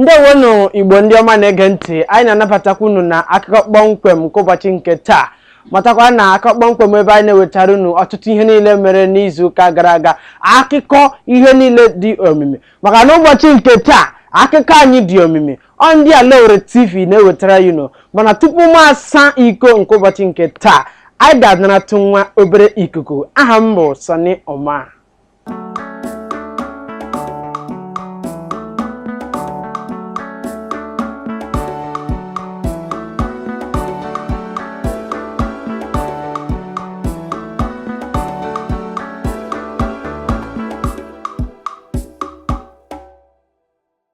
ndewonụ igbo ndị ọma na-ege ntị anyị na-anabatakwa unu na akụkọ kpọmkwem nke ụbọchị nke taa matakwa na akụkọ kpọmkwem ebe anyị na-ewetara unu ọtụtụ ihe niile mere n'izu ụka gara aga akụkọ ihe niile dị omimi maka na ụbọchị nke taa akụkọ anyị dị omimi ọ ndị Alaowere TV na-ewetara unu mana tupu m asa iko nke ụbọchị nke taa anyị ga-anaratụ nwa obere ikuku aha m bụ Sani Oma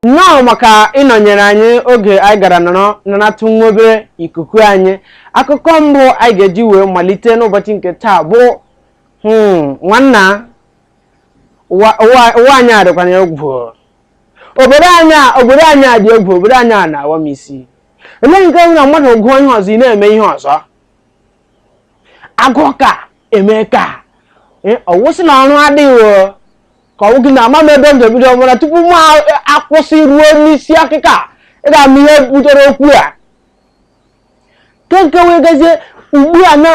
nnọọ maka ịnọnyere anyị oge anyị gara nọrọ naratụ nwa obere ikuku anyị akụkọ mbụ anyị ga-eji wee malite n'ụbọchị nke taa bụ hmm, nwanna ụwa ụwa- ụwa anyị a dịkwana egwu obodo anyị a- obodo anyị a dị egwu obodo anyị a na-awa m isi elee nke bụ na mmadụ gụọ ihe ọzọ ị na-eme ihe ọzọ agụọ ka eme ka Eh, ọ wụsị na ọrụ adịghị o. ka ọwụ gị na ama m ebe m ga-ebido ọmụra tupu m a- akwụsị ruo n'isi akụkọ a ị ga-ama ihe butere okwu a nke nke wee gazie ugbu a na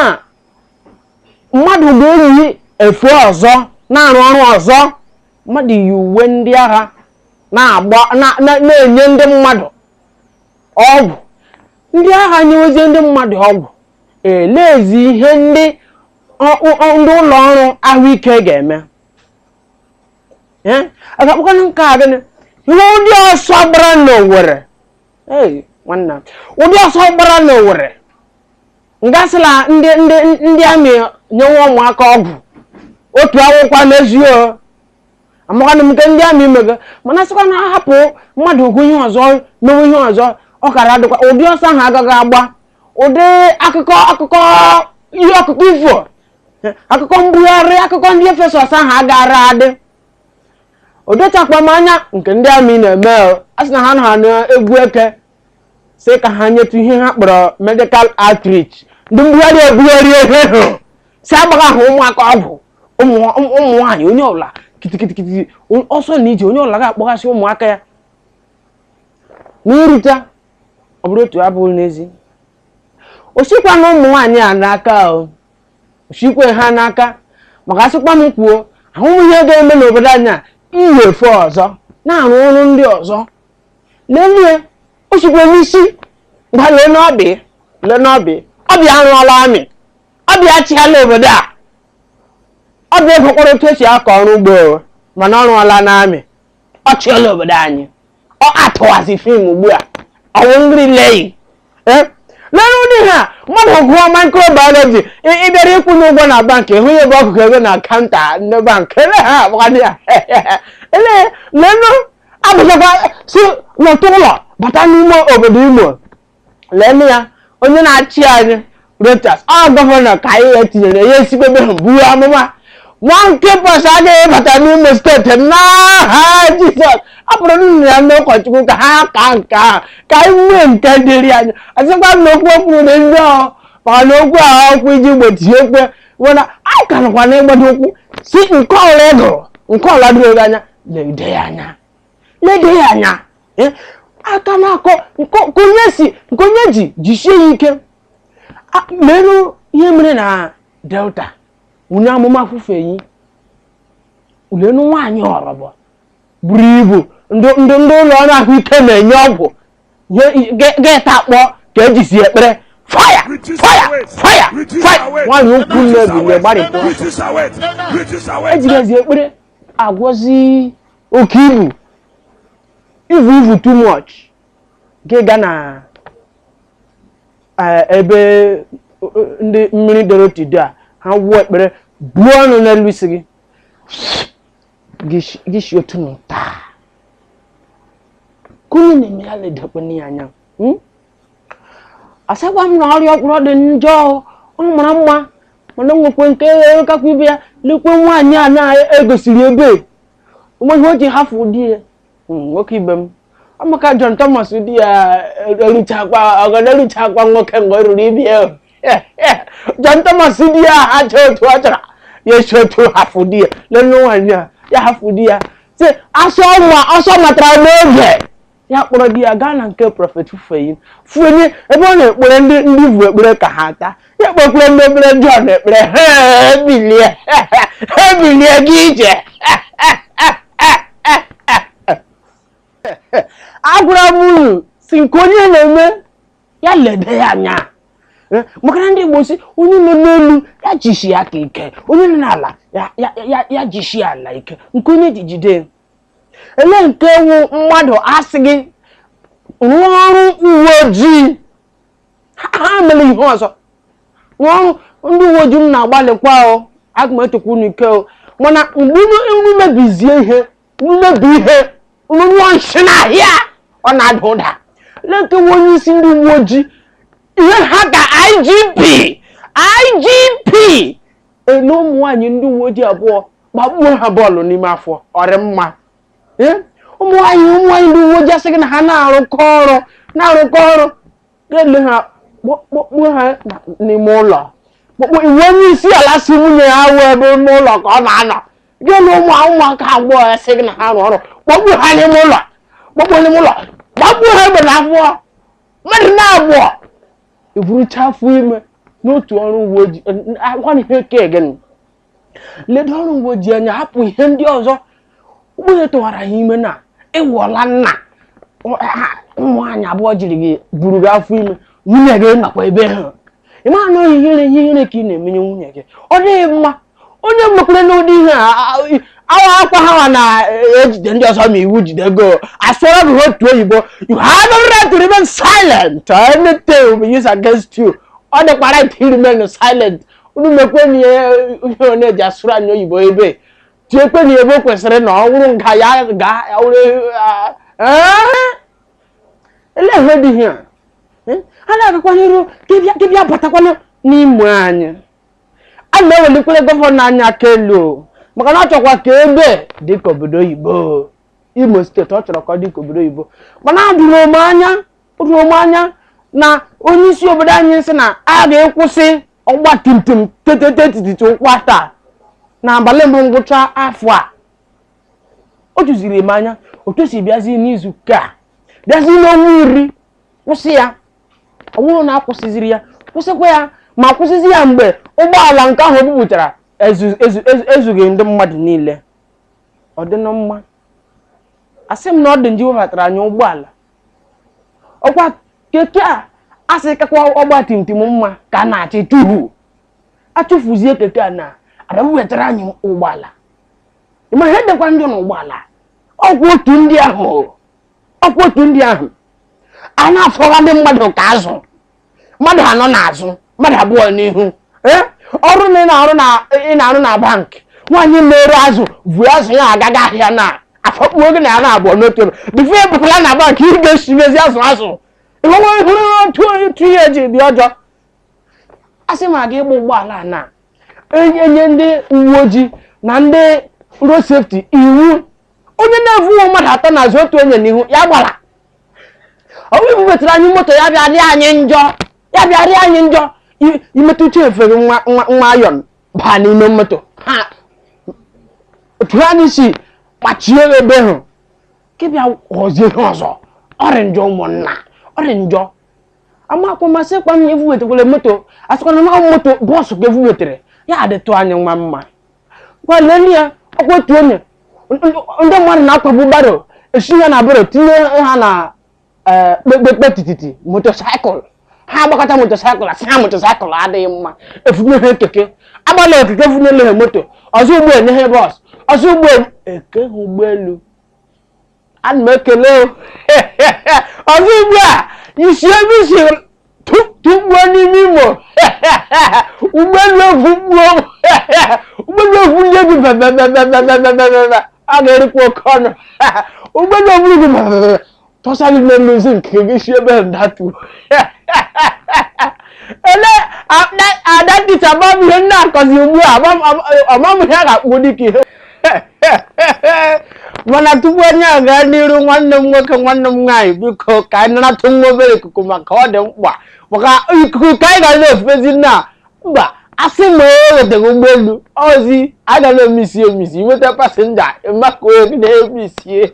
mmadụ ga-eyi efe ọzọ na-arụ ọrụ ọzọ mmadụ yi uwe ndị agha na-agba na- na- na-enye ndị mmadụ ọgwụ ndị agha nyewezie ndị mmadụ ọgwụ eleezi ihe ndị ọ- ọ- ọ- ndị ụlọ ọrụ ahụike ga-eme Eh, a ga-akpọkwanụ nke a gịnị ihe ụdị ọsọ gbara n'owere Hey, nwanna ụdị ọsọ gbara n'owere nga a sị na ndị ndị ndị army nyewe ụmụaka ọgwụ otu awụkwa n'ezi o amakwana m nke ndị army mega mana sịkwa na a hapụ mmadụ ọgụ ihe ọzọ mewe ihe ọzọ ọ kara adịkwa ụdị ọsọ ahụ agaghị agba ụdị akụkọ akụkọ ihe akụkọ ifo akụkọ mbugharị akụkọ ndị Efesọs ahụ agaara adị o dochakwa m anya nke ndị army na-eme a sị na ha nọ na egwu eke sị ka ha nyetụ ihe ha kpọrọ medical outreach ndị mbugharị ebugharịa ihe ahụ sị agbagha ha ụmụaka ọgwụ ụmụ nwaanyị onye ọbụla kitikitikiti ọsọ na ije onye ọbụla ga-akpọghasị ụmụaka ya n'irute ọ bụrụ otu abụghị n'ezi o sikwanụ ụmụ nwaanyị a n'aka o sikwa ha n'aka maka asịkwa m kwuo hmm ihe ga-eme n'obodo anyị a yiwe efe ọzọ na-arụ ọrụ ndị ọzọ n'ezie o sikwa n'isi gwa lee n'ọbị lee n'ọbị ọbịa arụọla amị ọbịa achịala obodo a ọbịa egokwara otu e si akọ ọrụ ugbo mana ọ rụọla n'amị ọ chịala obodo anyị ọ atụwazi fim ugbu a ọ wụ nri leyi lere ụdị ha mmadụ gụọ microbiology ị- ị bịara ịkwụnye ụgwọ na bankị hụ ya ebe ọ gụga ego na kaụnta ndị bankị ele ha agbadị ya ele lenu abụzakwa si n'otu ụlọ bata n'ime obodo imo leenụ ya onye na-achị anyị Rochas ọ gọvanọ ka anyị ya tinyere ya esigbebe ha buo amụma monkeypox agaghị bata n'imo steeti n'aha jizọs ọ bụrụ nna ya ndị ụkọchukwu ka ha ka nke ahụ ka anyị nwee nke dịrị anyị ọzọkwa na okwu okwu dị ndị ọhụ maka na okwu ahụ okwu iji gbochie ekwe mana a ka nọkwa n'ịgbado ụkwụ si nke ọla ego nke ọla dịrị anya lede ya anya lede ya anya eh, aka na-akọ nke onye si nke onye ji jisie ya ike lenụ ihe mere na delta onye amụma Fufeyin lenu nwaanyị ọrọbọ buru ibu ndị ụlọ ọrụ ahụike na-enye ọgwụ ga-atakpọ ka e jizi ekpere fire fire fire fire nwaanyị ukwu nne bụ mgbe gbarịpụ e jigazi ekpere agwọzi oke ibu ivu ivu too much nke ga na eh, ebe eh, ndị mmiri doro tido a ha wuo ekpere buo ọnụ n'elu isi gị gị shi- gị shi otu ahụ taa nke onye na-eme ya ledakwana ya anya hmm? asịkwa m na ọrịa ọkpụrụ dị njọ ọ mara mma mana nwekwe nke kakwa ibe ya lekwe nwaanyị a na-egosiri ebe onweghị o ji hafụ di ya hmm, nwoke ibe m maka John Thomas di ya eruchakwa ọgọdọ eruchakwa nwoke mgbe ọ ruru ibe ya John Thomas di ya ha chọọ otu ọ chọrọ ya esi otu hafụ di ya lele nwaanyị a ya hafụ di ya sị asọ matara n'oge ya kpọrọ di ya gaa na nke prọfet Fufeyin Fufeyin ebe ọ na-ekpere ndị ndị ivu ekpere ka ha taa ya kpọkwere ndị ekpere ndị ọ na-ekpere ha ebilie ha ebilie gị ije agwara m unu si nke onye na-eme ya lede ya anya Eh, maka na ndị Igbo si onye nọ n'elu ya jishie aka ike onye nọ n'ala ya- ya- ya- ya jishie ala ike nke onye ji jide ele nke wu mmadụ asị gị rụọ ọrụ uwe ojii emele ihe ọzọ rụọ ọrụ ndị uwe ojii unu na-agbalịkwa o aga m etokwa unu ike o mana mgbe unu mebizie ihe unu mebi ihe unu nyụọ nshi n'ahịa ọ na-ada ụda ele nke wu onye isi ndị uwe ojii ihe ha ka IGP IGP ele ụmụ nwaanyị ndị uwe ojii abụọ gbakpuo ha bọọlụ n'ime afọ ọrị mma Ee, ụmụ nwaanyị ụmụ nwaanyị ndị uwe ojii asị gị na ha na-arụkọ ọrụ na-arụkọ ọrụ ga-ele ha kpọ- kpọkpuo ha na- n'ime ụlọ kpọkpuo ị wụ onye isi ala sị nwunye ya awụ ebe ime ụlọ ka ọ na-anọ ga-ele ụmụ ụmụaka abụọ a sị gị na ha rụọ ọrụ kpọkpuo ha n'ime ụlọ kpọkpuo n'ime ụlọ gbakpuo ha egbe n'afọ mmadụ na-abụọ eburucha afọ ime n'otu ọrụ uwe ojii agwa ihe oke gịnị ledo ọrụ uwe ojii anya hapụ ihe ndị ọzọ ugbu a ị tụwara ha ime na ị wụọla nna ụmụ nwaanyị abụọ jiri gị buru gị afọ ime nwunye gị nọkwa ebe ahụ ị ma na ọ wụ ihere ihe ihere ka ị na-emenye nwunye gị ọ dịghị mma onye mmekwere n'ụdị ihe a awa ọkwa ha na-ejide ndị ọzọ ma iwu jide gị asụọrọ gị otu oyibo you have a right to remain silent or anything will be used against you ọ dịkwa right to remain silent unu mekwe na ihe ihe ọ na-eji asụrụ anyị oyibo ebe tiekwe na ebe o kwesịrị na ọ wụrụ nga ya ga ya wụrụ ele ihe dị ihe a a na-agakwa n'iru ka ị bịa- ka ị bịa batakwanụ n'ime anyị a na-ewelikwere gọvanọ anyị aka elu o, maka na ọ chọkwa ka ebe dị ka obodo oyibo imo steeti ọ chọrọ ka ọ dị ka obodo oyibo mana atụrụ m anya tụrụ m anya na onye isi obodo anyị sị na a ga-akwụsị ọgba tim tim tetete tititi ụkwụ atọ na abalị mbụ ngwụcha afọ a o juziri m anya otu o si bịazi n'izu ụka a bịazi n'ọnwa iri kwụsị ya ọ bụrụ na akwụsịziri ya kwụsịkwa ya ma kwụsịzi ya mgbe ụgbọala nke ahụ bupụtara ezu- ezu- ezu- ezughị ndị mmadụ niile ọ dịnụ mma asị m na ọ dị njọ iwebatara anyị ụgbọala ọkwa keke a a sị kakwa ọgba tim tim mma ka a na-achọ ịchụfu achụfuzie keke a na abịa wetara anyị ụgbọala ị ma ihe dịkwa njọ na ụgbọala ọkwa otu ndị ahụ ọkwa otu ndị ahụ a na-afọwa ndị mmadụ ka azụ mmadụ anọ n'azụ mmadụ abụọ n'ihu ee ọrụ na ị na-arụ na ị na-arụ na bankị nwaanyị na-ere azụ vu azụ ya aga ahịa na afọkpuo gị na ya na-abụọ n'otu ebe bifo ebukwala na bankị ị ga-esiwezi azụ azụ ịhụrụ ịhụrụ otu otu ihe ji dị ọjọọ a sị ma gị ịgba ụgbọala a na enye ndị uwe ojii na ndị road safety iwu onye na-evu ụmụ mmadụ atọ n'azụ otu onye n'ihu ya agbala ọ wụ ibuwetara anyị moto ya bịa rịa anyị njọ ya bịa rịa anyị njọ I- imetụ uche efere nwa nwa nwa ayọn baa n'ime moto ha otu ha anyị si kpachie ebe ahụ ke bịa ghọzie ihe ọzọ ọ rị njọ ụmụnna ọ rị njọ amakwa ma asịkwa ma evuwetakwara moto asịkwa na moto bọọsụ ka evuwetara ya adịtụ anyị nwa mma ngwa lee ya ọkwa otu onye ndị mmadụ na-akwabu baro esi ha na baro tinye ha na eh, kpekpekpe tititi motosaịkụl ha agbakata motosaịkụl asị ha motosaịkụl adịghị mma evunye ha keke agbala ekeke funyele ha moto ọzọ ugbu a enye ha bọọsụ ọzọ ugbu a eke ha ụgbọelu ana m ekele o. ọzọ ugbu a isi ebe isi tu- tụgbuo n'ime Imo ụgbọelu evupụọ. ụgbọelu evu gị bebebebebebebebebe a ga-erikwa oke ọnụ ụgbọelu evuru gị bebebebe tọsa gị n'elu isi nke gị si ebe ndatu ele ada nkịta gbam ihe m na-akọzi ugbu a ọmam ihe a ga-akpọ dịka ihe mana tupu anyị agaa n'iru nwanne m nwoke nwanne m nwaanyị biko ka anyị naratụ nwa obere ikuku maka ọ dị mkpa maka ikuku ka anyị ga na-efezi na mba asị ma e wetara ụgbọelu ozi anyị ga na-emisi emisi inweta pasenja maka onye na-emisie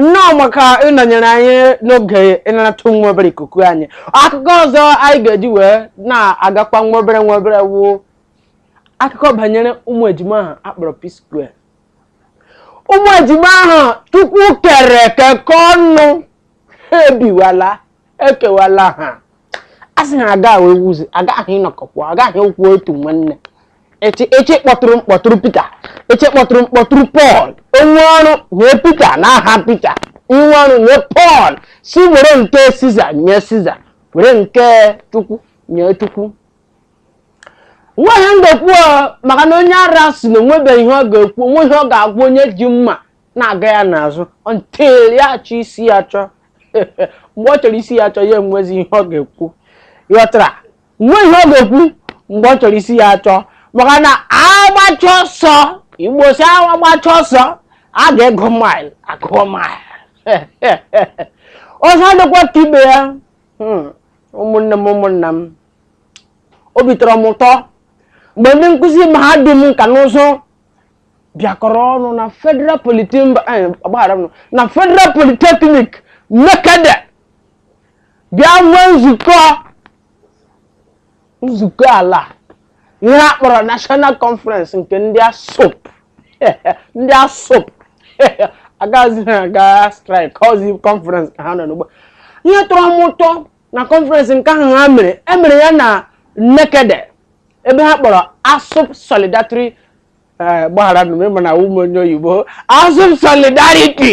nnọọ maka ịnọnyere anyị n'oge ịnarata nwa obere ikuku anyị akụkọ ọzọ anyị ga-eji wee na-agakwa nwa obere nwa obere wụ akụkọ banyere ụmụ ejima ahụ akpọrọ P-Square ụmụ ejima ahụ Chukwu kere kekọ ọnụ ha ebiwala ekewala ha a sị ha aga wee wuzi agaghị ịnọkọkwa agaghị okwu otu nwanne ịchọ ịkpọtụrụ kpọtụrụ Pita ịchọ ịkpọtụrụ kpọtụrụ Pọl onwe ọrụ nye Pita n'aha Pita inwe ọrụ nye Pọl sị were nke Siza nye Siza were nke Chukwu nye Chukwu wụ ihe m ga-ekwu ọ, maka na onye ara sị na onwebeghị ihe ọ ga-ekwu onwe ihe ọ ga-agwa onye ji mma na-aga ya n'azụ until ya achọọ isi ya achọọ mgbe ọ chọrọ isi ya achọọ ya enwezi ihe ọ ga-ekwu ghọtara nwe ihe ọ ga-ekwu mgbe ọ chọrọ isi ya achọọ maka na agbacha ọsọ Igbo sị agbacha ọsọ a ga-agụ mil agụọ mil ọzọ dịkwa ka ibe ya hmm, ụmụnne m ụmụnna m obi tọrọ m ụtọ mgbe ndị nkụzi mahadum nka na ụzụ bịakọrọ ọnụ na federal eh, na federal polytechnic nekede bịa nwee nzukọ nzukọ ala ihe a kpọrọ national conference nke ndị ASUP ndị ASUP agaghịzi ha aga strike ọzi conference ka ha nọ ugbu a ihe tọrọ m ụtọ na conference nke ahụ ha mere e mere ya na nekede ebe ha kpọrọ ASUP solidatri eh, gbaghara nụ m ị ma na awụghị m onye oyibo ASUP solidarity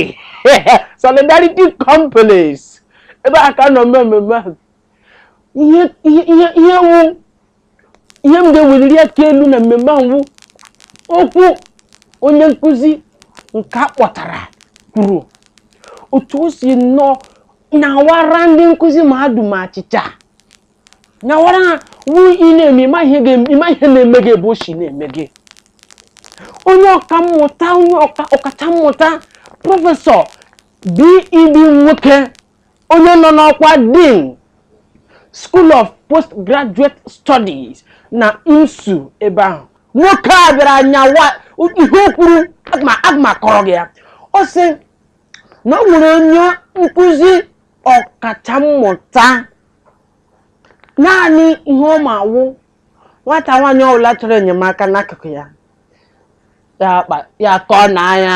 solidarity complex ebe a ka a nọ mee mmemme ahụ ihe ihe ihe ihe wụ ihe m ga-eweliri aka elu na mmemme ahụ okwu onye nkụzi nke a kpọtara kwuru otu o si nnọọ nyawara ndị nkụzi mahadum achịcha nyawara ha wụ ị na-eme ịma ihe ga-eme- ịma ihe na-eme gị ebe o si na-eme gị onye ọka mmụta onye ọka- ọkacha mmụta professor B.E.B. Nwoke onye nọ n'ọkwa Dean School of Postgraduate Studies na IMSU ebe ahụ nwoke a bịara nyawa ihe o kwuru aga m akọrọ gị ya ọ sị na o nwere onye nkụzi ọkacha mmụta naanị ihe ọ ma wụ nwata nwaanyị ọbụla chọrọ enyemaka n'akụkụ ya ya akọ na anya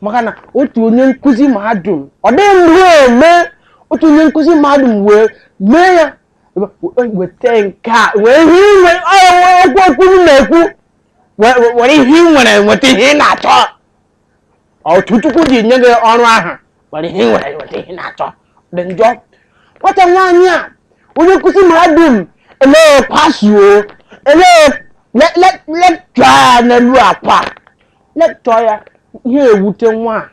maka na otu onye nkụzi mahadum ọ dịghị mgbe eme otu onye nkụzi mahadum wee mee ya weta nke a wee ihe inwe okwu okwu m na-ekwu were ihe ị nwere nweta ihe ị na-achọ otu chukwu ji nye gị ọrụ ahụ were ihe ị nwere nweta ihe ị na-achọ dị njọ nwata nwaanyị a onye nkụzi mahadum elee pasuo elee lekchọa n'elu akwa lekchọọ ya ihe ewute nwa a.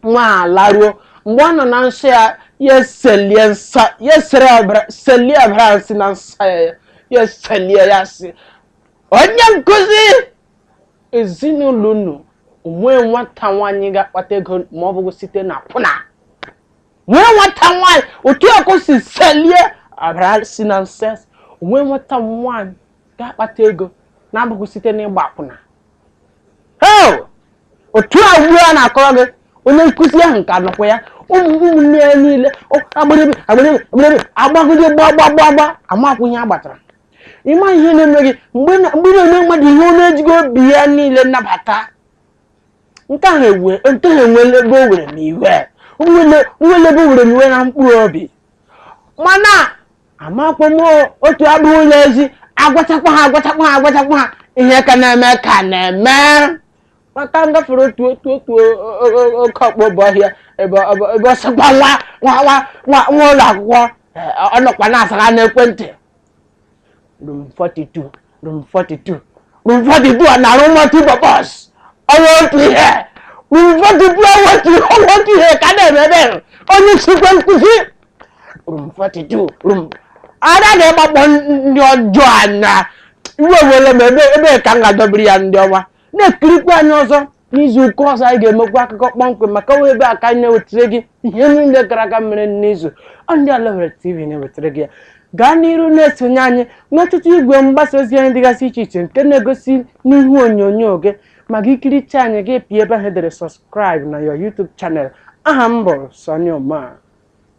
nwa a laruo mgbe ọ nọ na nsọ ya ya eselie nsọ ya esere ọbara selie ọbara ahụ si na nsọ ya ya ya eselie ya sị onye nkụzi ezinụlọ unu o nwee nwata nwaanyị ga-akpata ego ma ọ bụghị site na akwụna nwee nwata nwaanyị otu a ka o si selie ọbara si na nsọ ya sị, nwee nwata nwaanyị ga-akpata ego na-abụghị site n'ịgba akwụna otu a ugbu a na-akọrọ gị onye nkụzi ahụ nke anọkwa ya ụmụ ụmụnne ya niile agbịrịbị agbịrịbị agbịrịbị agbagide gbagbagbagba amakwụnye agbatara ịma ihe na-eme gị mgbe ị na-eme mmadụ ihe ọ na-ejighị obi ya niile nabata nke ahụ ewe nke ahụ enwele ebe o were m iwe nwele ebe o were m iwe na mkpụrụ obi mana amakwa m otu abụghị ụlọ ezi agwachakwa ha agwachakwa ha agwachakwa ha ihe ka na-eme ka na-eme maka ngafere otu otu otu o- o- o- oke ọkpọ bụ ọhịa ebe ọ- ebe- ebe ọ sịkwa nwa nwa nwa nwa nwa ụlọ akwụkwọ eh, ọ nọkwa na-asaga n'ekwentị room 42 room 42 room 42 a na-arụ multi-purpose ọ wụghị otu ihe room 42 ọ wụghị otu ihe ka a na-eme ebe ahụ. onye nchekwa nkụzi room 42 ada na-agbakpọ ndị ọjọọ anya iwe were m ebe a ka m ga-adọbiri ya ndị ọma na-ekirikwa anyị ọzọ n'izu ụka ọzọ anyị ga-emekwa akụkọ kpọmkwem maka ọ wụ ebe a ka anyị na-ewetara gị ihe niile gara aga mere n'izu ọ ndị Ala Owerri TV na-ewetara gị ya gaa n'iru na-esonye anyị n'ọtụtụ igwe mgbasa ozi anyị dịgasị iche iche nke na-egosi n'ihu onyonyo gị ma gị kiricha anyị gị pịa ebe ahụ e dere subscribe na your YouTube channel aha m bụ Sonny Oma